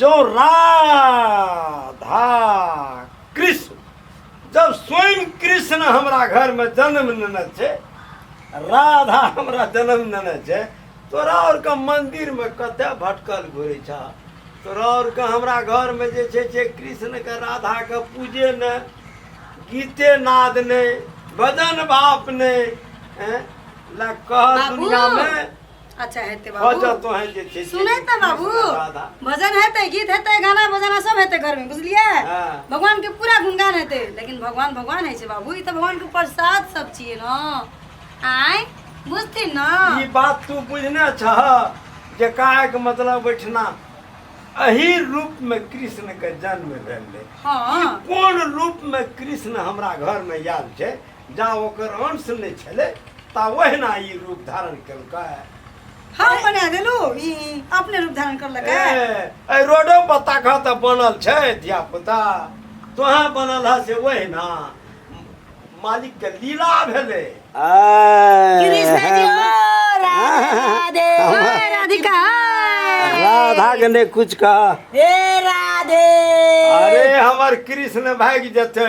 जो राधा कृष्ण जब स्वयं कृष्ण हमरा घर में जन्म लेने छे राधा हमरा जन्म लेने छे तोरा और के मंदिर में कत भटकल घुरे छा तोरा और के हमरा घर में जे छे छे कृष्ण के राधा के पूजे ने गीते नाद ने भजन बाप ने हैं? ला कह बाबू। दुनिया में अच्छा हेतै हँ बाबू जब तोहें जे छै सुनै तऽ बाबू राधा भजन हेतै गीत हेतै गाना बजाना सब हेतै घरमे बुझलियै हाँ। भगवानके पूरा गुणगान हेतै लेकिन भगवान भगवान होइ छै बाबू ई तऽ भगवानके प्रसाद सब छियै ने आँय बुझथिन ई ने बात तू बुझने छह जे काहे के मतलब ओहिठिना एही रूप में कृष्ण के जन्म भेल रहे हाँ कोन रूप में कृष्ण हमरा घर में आयल छै जा ओकर अंश नहि छलै ता ओहिना ई रूप धारण केलकै हम बना देलू ई अपने रूप धारण करलक ए, है एहि रोडो पर ताकह तऽ बनल छै धिया पुता तोहे बनल है से ओहिना मालिक के लीला भेलै कृष्ण जी ओ राधे हाय राधिका हाय। राधा के नहि कुछ कह हे राधे अरे हमर कृष्ण भागि जेतै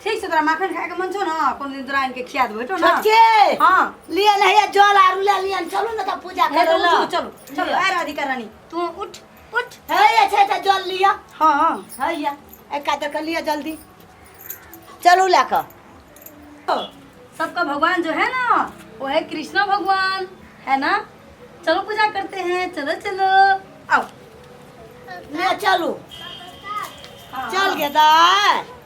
ठीक छै तोरा माखन खायके मन छौ ने कोनो दिन तोरा आनिके खिया देबो हेटो ने छोटकी हाँ लिए लहिया जल आरू ले लियन चलू ने तऽ पूजा हे करे तो ला उठ, चलो चलो आ राधिका रानी तू उठ उठ हे ये छै तऽ जल लिअ हाँ हाँ हैया एका दऽ कऽ लिअ जल्दी चलू लए कऽ तो सबका भगवान जो है ना वो है कृष्णा भगवान है ना चलो पूजा करते हैं चलो चलो आओ ले चलू हाँ, चल गे दाय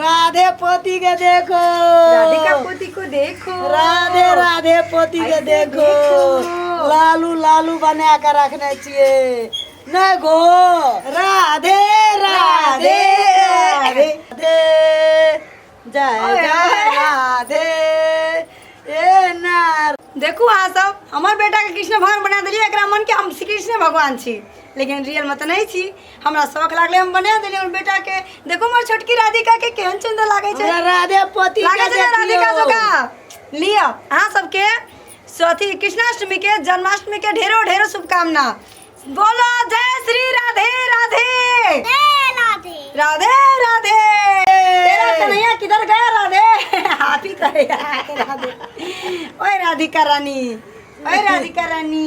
राधे पोती के देखो राधिका पोती को देखो राधे राधे पोती के ऐसे देखो देखो। लालू लालू बना के रखने छिए न गो राधे राधे राधे राधे जय ओए, जय ओए। राधे ए नार देखू अहाँ सब हमर बेटाके कृष्ण भगवान बना देलियै एकरा मनके हम श्री कृष्ण भगवान छी लेकिन रियलमे तऽ नहि छी हमरा शौक लागले हम बना देली हमर बेटा के देखो हमर छोटकी राधिका के केहन सुंदर लागे छै हमरा राधे पति लागे छै ना राधिका जोका लियो अहाँ सबके अथी कृष्णाष्टमी के जन्माष्टमी के ढेरो ढेरो शुभकामना बोलो जय श्री राधे राधे राधे राधे तेरा कन्हैया किधर गया राधे हाथी करे आके राधे ओए राधिका रानी ओए राधिका रानी